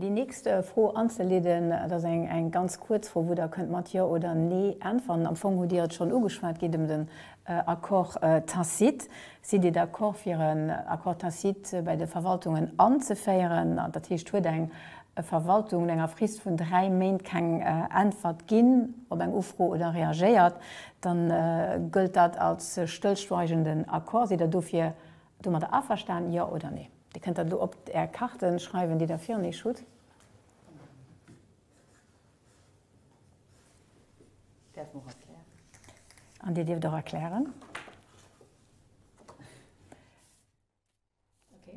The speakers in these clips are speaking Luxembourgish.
Déi nächst Fro anzeleeden, dat ass eng ganz kuerz Fro, wou Der kënnt mat Jo oder Nee äntweren. Am Fong hutt Dir et schonn ugeschwat, et geet ëm den Accord tacite. Sidd Dir d'accord, fir en Accord tacite bei de Verwaltungen anzeféieren? Dat heescht, huet eng e Verwaltung no enger Frist vun dräi Méint keng Äntwert ginn op eng Ufro oder reagéiert, da gëllt dat als stëllschweigenden Accord. Sidd Der dofir domadder averstanen, jo oder nee? Dir kënnt dat elo op Är Karte schreiwen, déi Der virun Iech hutt. An Dir dierft och erklären.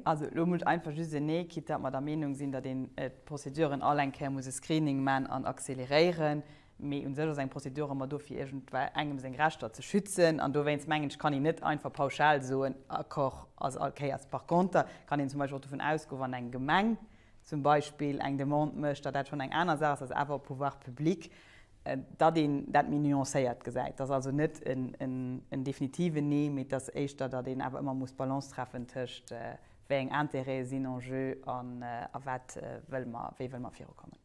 Also elo muss ech einfach just en Nee, quitte datt mer der Meenung sinn, datt een d'Prozeduren all eng Kéier muss e Screening man an accéléréieren. Mee u sech ass eng Prozedur ëmmer do fir iergendwei engem seng Rechter ze schützen an dowéinst mengen ech, kann een net einfach pauschal soen, Accord ass all Kéiers. Par contre kann een zum Beispill och dovun ausgoen, wann eng Gemeng zum Beispill eng Demande mécht, datt dat schonn eng aner Saach ass, ass awer op Pouvoir public datt een dat méi nuancéiert gesäit, datt also net en definitiven Nee, mee datt éischter, datt een awer ëmmer muss d'Balance treffen tëscht wéi eng Intérêtë sinn en jeu an a wat wëlle mer, wéi wëlle mer virukommen.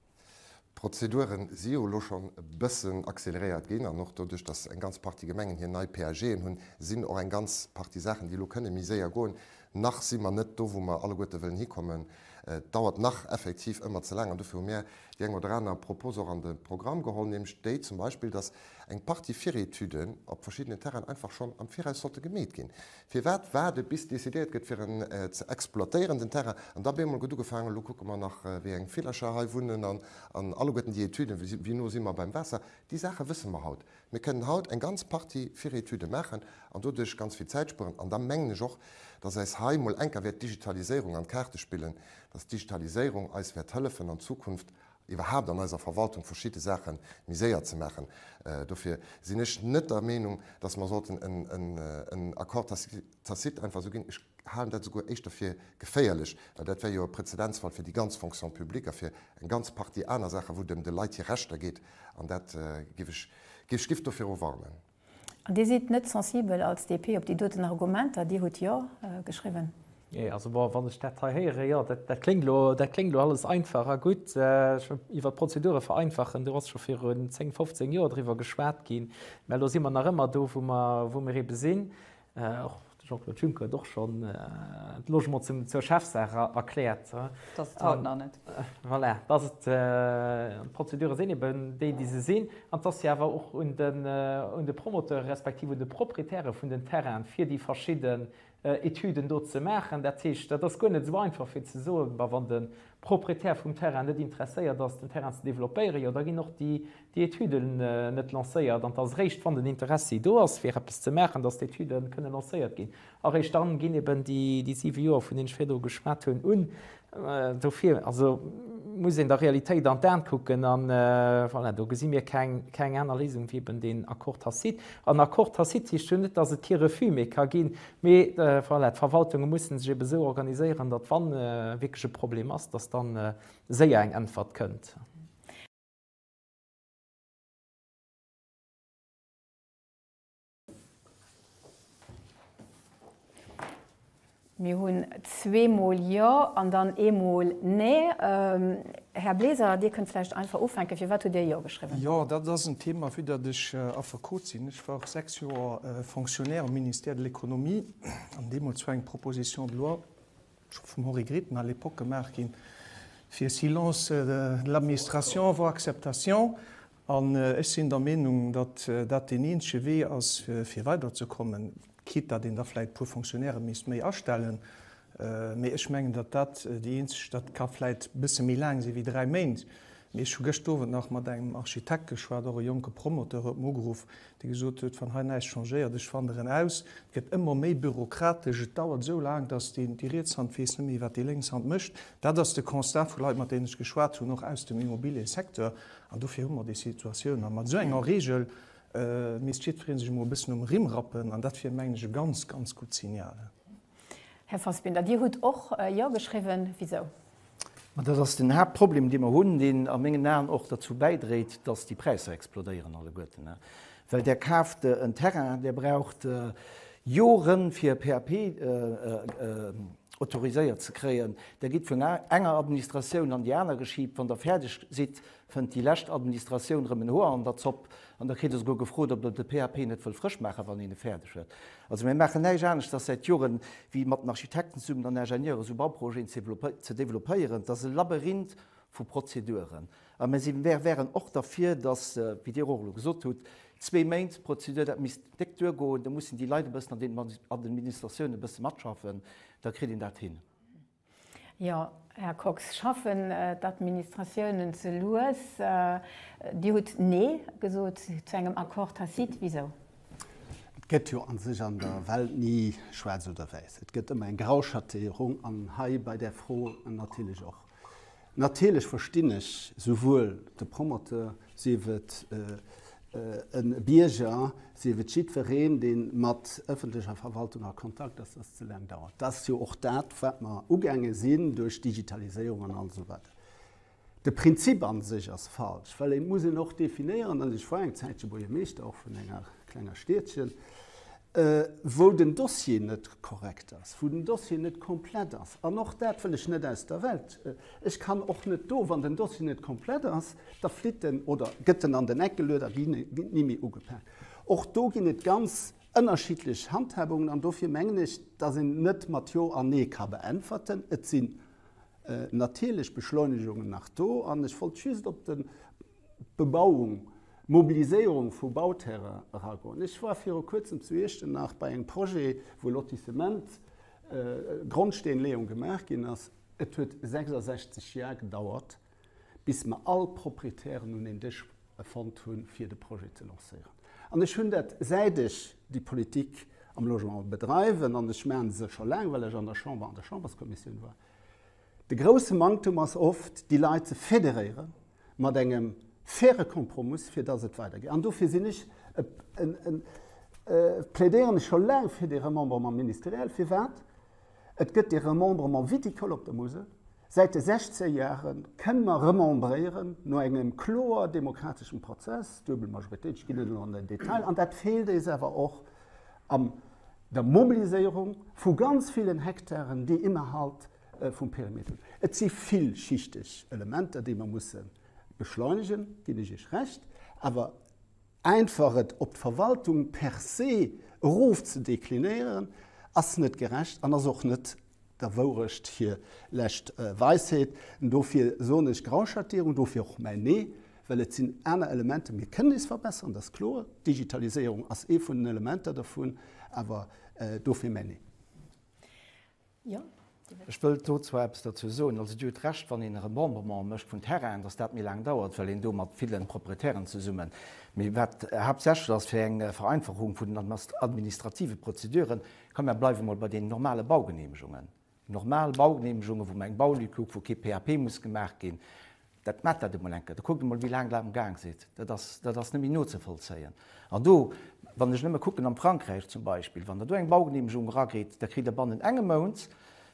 D'Prozedure si jo elo schonn e bëssen accéléréiert ginn an och doduerch, datt eng ganz Partie Gemengen hir nei PAGen hunn, sinn och eng ganz Partie Saachen, déi elo kënne méi séier goen. Nach si mer net do, wou mer alleguerte wëllen hikommen. Et dauert nach effektiv ëmmer ze laang an dofir hu mär déi eng oder aner Propos och an de Programm geholl, nämlech déi zum Beispill, dass eng Partie Virétuden op verschiddenen Terrainen einfach schonn am Viraus sollte gemeet ginn. Firwat waarde bis decidéiert gëtt fir en ze exploitéieren den Terrain an da bemol gëtt ugefaangen, elo kucke mer nach wéi eng Villercher hei wunnen an alleguerten déi Etuden, wéi no si mer beim Waasser. Déi Saache wësse mer haut. Mir kënnen haut eng ganz Partie Virétüde maachen an doduerch ganz vill Zäit spueren. An da mengen ech och, dass eis hei mol enker wäert d'Digitaliséierung an d'Kaarte spillen, dass d'Digitaliséierung eis wäert hëllefen an Zukunft iwwerhaupt an eiser Verwaltung verschidde Saache méi séier ze maachen. Dofir sinn ech net der Meenung, dass mer sollten en Accord tacite einfach esou ginn. Ech halen dat esouguer éischter fir geféierlech, well dat wär jo e Präzedenzfall fir déi ganz Fonction publique a fir eng ganz Partie aner Saachen, wou et ëm de Leit hir Rechter geet, An dat géif ech géif ech giff doviro warnen. An Dir sidd net sensibel als DP op déi doten Argumenter? Dir hutt Jo geschriwwen. Jee, also bon, wann ech dat hei héieren, jo, dat kléngt elo, dat kléngt elo alles einfach a gutt, iwwert d'Prozedure vereinfachen, do ass scho viru zéng, fofzéng Joer driwwer geschwat ginn, mä elo si mer nach ëmmer do, wou mer, wou mer ebe sinn. Och de Jean-Claude Juncker huet och schonn de Logement zur Chefsaach erkläert. Dass et haut nach net. Voilà, dass et, d'Prozedure sinn eben déi, déi se sinn an dass se awer och un de Promoteure respektiv un de Proprietäre vun den Terrainen, fir déi verschidden Etüden do ze maachen. Dat heescht, dat ass guer net esou einfach fir ze soen, ma wann den Proprietär vum Terrain net interesséiert ass, den Terrain ze developpéieren, jo da ginn och déi Etüde net lancéiert. An et ass eréischt, wann den Interessi do ass, fir eppes ze maachen, datt d'Etüde kënne lancéiert ginn. A réischt dann ginn eben déi siwe Joer, vun deenen ech virdru geschwat hunn, un. Dofir muss een der Realitéit an d'Aen kucken. A voilà, do gesi mir keng aner Léisung wéi eben deen Accord tacite. An Accord tacite heescht jo net, datt et kee Refus méi ka ginn. Mee voilà, d'Verwaltunge musse sech ebe sou organiséieren, datt wa wierklech e Problem ass, datt da séier eng Äntwert kënnt. Mir hunn zweemol Jo an dann eemol Nee. Här Bleser, Dir kënnt vläicht einfach ufänken. Firwat hutt Dir Jo geschriwwen? Jo, dat ass en Thema. Vu datt ech Affekot sinn, ech war och sechs Joer Fonctionnaire am Ministère de l'Économie, an deemools war eng Proposition de loi, scho vum Henri Grethen à l'époque, gemaach ginn, fir Silence de l'administration vaut acceptation. An ech sinn der Meenung, datt dat deen eenzege Wee ass, fir weiderzekommen, quitte datt een da vläicht e puer Fonctionnairen misst méi astellen. Mee ech mengen, datt dat déi eenzeg, dat ka vläicht e bësse méi laang si wéi dräi Méint, mee ech hu gëscht Owend nach mat engem Architekt geschwat, och e jonke Promoteur huet mer ugeruff, dee gesot huet, wann hei näischt changéiert, ech wanderen aus. Et gëtt ëmmer méi bürokratesch, et dauert esou laang, datt déi riets Hand weess net méi, wat déi lénks Hand mécht. Dat ass de Constat vu Leit, mat deenen ech geschwat hunn, och aus dem Immobiliësecteur, An dofir hu mer déi Situatioun. A mat esou enger Reegel misst jiddweree sech emol e bëssen um Rimm rappen. An dat wier, mengen ech, e ganz, ganz gutt Signal. Här Fassbinder, Dir hutt och Jo geschriwwen. Wisou? Ma dat ass den Haaptproblem, dee mer hunn, deen a mengen Aen och derzou bäidréit, datt déi Präisser explodéieren alleguerten. Well där kaaft en Terrain, där braucht Joren fir e PAP autoriséiert ze kréien, där gitt vun enger Administratioun an déi aner geschiibt, wann der fäerdeg sidd, fënnt déi lescht Administratioun erëm en Hoer an der Zopp an da kritt der souguer gefrot, ob der de PAP net wëll frësch maachen, wann een e fäerdeg huet. Also mir maachen näischt anescht as säit Joren, wéi mat den Architekten zesummen an Ingenieuren esou Bauprojeten ze développéieren. Dat as e Labyrinth vu Prozeduren. A mir si, mir wäeren och derfir, datt, wéi Dir och elo gesot hutt, zwee Méint d'Prozedur, dat misst déck duergoen. Da mussen déi Leit e bëssen an den Administratiounen e bësse matschaffen, da kritt een dat hin. Jo, Här Kox, schaffen d'Administratiounen ze lues? Dir hutt Nee gesot zu engem Accord tacite. Wisou? Et gëtt jo a sech an der Welt ni schwaarz oder wäiss. Et gëtt ëmmer eng Grauschatéierung, an hei bei där Fro natierlech och. Natierlech verstinn ech souwuel de Promoteur, sief et e Bierger, sief et jiddwereen, dee mat ëffentlecher Verwaltung a Kontakt ass, dass et ze laang dauert. Dat ass jo och dat, wat mer ugaange sinn duerch Digitaliséierung an all esou weider. De Prinzip a sech ass falsch, well et muss een och definéieren, an ech war eng Zäitche Buergermeeschter och vun enger klenger Stiedchen, wou den Dossier net korrekt ass, wou den Dossier net komplett ass, an och dat wëll ech net aus der Welt, ech kann och net do, wann den Dossier net komplett ass, da flitt en oder gëtt en an den Eck geluet a ginn ni méi ugepaakt. Och do ginn et ganz ënnerschiddlech Handhabungen an dofir mengen ech, dass een net mat Jo an Nee ka beäntwerten. Et sinn natierlech Beschleunigungen nach do an ech wollt just op de, Bebauung, Mobiliséierung vu Bauterrain eragoen. Ech war viru kuerzem zu Iechternach bei engem Projet, wou Lotissement, Grondsteenleeung gemaach ginn ass. Et huet 66 Jar gedauert, bis mer all Proprietären un een Dësch fonnt hunn, fir de Projet ze lancéieren. An ech hunn dat, säit ech déi Politik am Logement bedreiwen, an ech maachen se scho laang, well ech an der Chamber an der Chamberskommissioun war, de grousse Manktum ass oft, déi Leit ze federéieren, mat engem faire Kompromiss, fir dass et weidergeet. An dofir sinn ech e, e, e, plädéieren ech scho laang fir dee Remembrement ministériel. Firwat? Et gëtt dee Remembrement viticole op der Musel. Säit de 16 Jahre kënne mer remembréieren, no engem kloer demokrateschem Prozess, duebel Majoritéit, ech ginn net elo an den Detail an. Dat feelt eis awer och an der Mobiliséierung vu ganz villen Hektaren, déi innerhalb, vum Perimeter. Et si villschichteg Elementer, déi mer musse beschleunegen, ginn ech Iech Recht, awer einfach et op d'Verwaltung per se erof ze deklinéieren, ass net gerecht an ass och net der Wourecht hir lescht Weisheet. Dofir soen ech Grauschattierung, dofir och mäin Nee, well et sinn aner Elementer. Mir kënnen eis verbessern, dat ass kloer, d'Digitaliséierung ass ee vun den Elementer dervun, awer dofir mäin Nee. Ech wëllt do zwar eppes dozou soen. Also, Dir hutt Recht, wann een e Remembrement mécht vun Terrainen, dass dat méi laang dauert, well een do mat ville Proprietären zesummen, mee wat haaptsächlech ass fir eng Vereinfachung vun den administrative Prozeduren, ka mä bleiwe mol bei deenen normale Baugenehmegungen, normal Baugenehmegungen, wou mer eng Baulücke hu wou kee PAP muss gemaach ginn, Dat maacht dat emol eng Kéier. Da kuckt emol, wéi laang dat am Gaang sidd. Dat ass, dat ass net méi nozevollzéien. An do, wann ech nëmme kucken am Frankräich zum Beispill, wann Der do eng Baugeneemegung erageet, da kritt Der bannen engem Mount,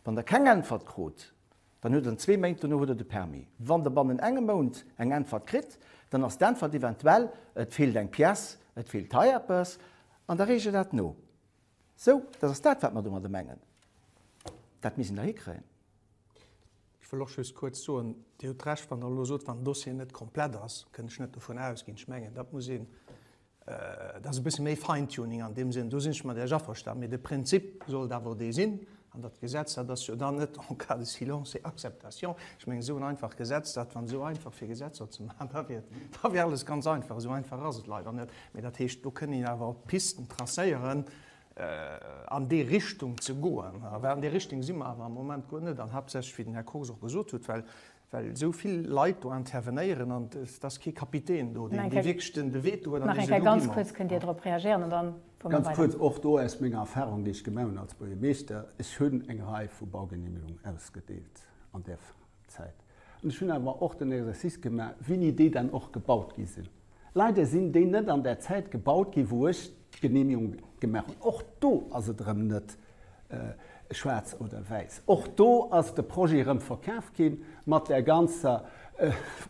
wann Der keng Äntwert krut, dann huet Der zwee Méint dono huet Der de Permis. Wann Der bannen engem Mount eng Äntwert kritt, dann ass d'Äntwert eventuell, et feelt eng Pièce, et feelt hei eppes, an da reegt Der dat no. Sou, dat ass dat, wat mer domadder mengen. Dat misst een da hikréien. Ech wëll och just kuerz soen, Dir hutt Recht, wann Der elo sot, wann den Dossier net komplett ass, kënn ech net dovun ausginn. Ech mengen, dat muss een, dat ass e bësse méi Fine-Tuning an deem Sënn, do sinn ech mat Iech averstan. Mee de Prinzip sollt awer dee sinn. An dat Gesetz, dat ass jo dann net en cas de silence et acceptation. Ech mengen, esou en einfacht Gesetz, dat wann esou einfach fir Gesetzer ze maachen, da wier, da wier alles ganz einfach. Esou einfach ass et leider net. Mee dat heescht, do kënn een awer Pisten tracéieren, an déi Richtung ze goen, well an där Richtung si mer awer am Moment guer net, an haaptsächlech, wéi den Här Kox och gesot huet, well esou vill Leit do intervenéieren an et ass kee Kapitän do, dee wierklech de Veto huet an dee seet, Lo gi mer. Ganz kuerz, och do aus menger Erfahrung, déi ech gemaach hunn als Buergermeeschter, Ech hunn eng Rei vu Baugenehmigungen ausgedeelt an där Phas. Zäit. An ech hunn awer och den Exercice gemaach, wéini déi dann och gebaut gi sinn. Leider sinn déi net an där Zäit gebaut ginn, wou ech d'Genehmigung gemaach hunn. Och do ass et erëm net schwaarz oder wäiss. Och do ass de Projet erëm verkaf ginn, mat där ganzer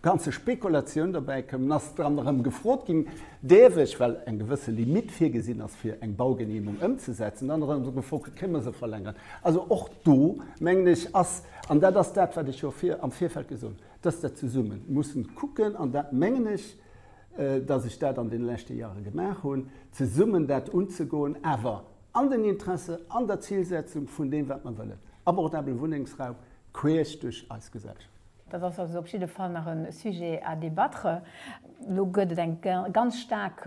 ganze Spekulatioun dobäi koum. Dann ass dran erëm gefrot ginn, däerf ech, well eng gewësse Limitt virgesinn ass, fir eng Baugenehmung ëmzesetzen, dann erëm gefrot ginn, Kéint mer se verlängeren? Also och do, mengen ech, ass An dat ass dat, wat ech jo am Virfeld gesot hunn, dass der zesumme musse kucken, an dat mengen ech, dass ech dat an deene leschte Jahre gemaach hunn, zesummen dat unzegoen, awer an den Interesse, an der Zilsetzung vun deem, wat mer wëllen, abordabele Wunnengsraum queesch duerch eis Gesellschaft. Dat ass also op jidde Fall nach e Sujet à débattre. Elo gëtt et eng ganz staark.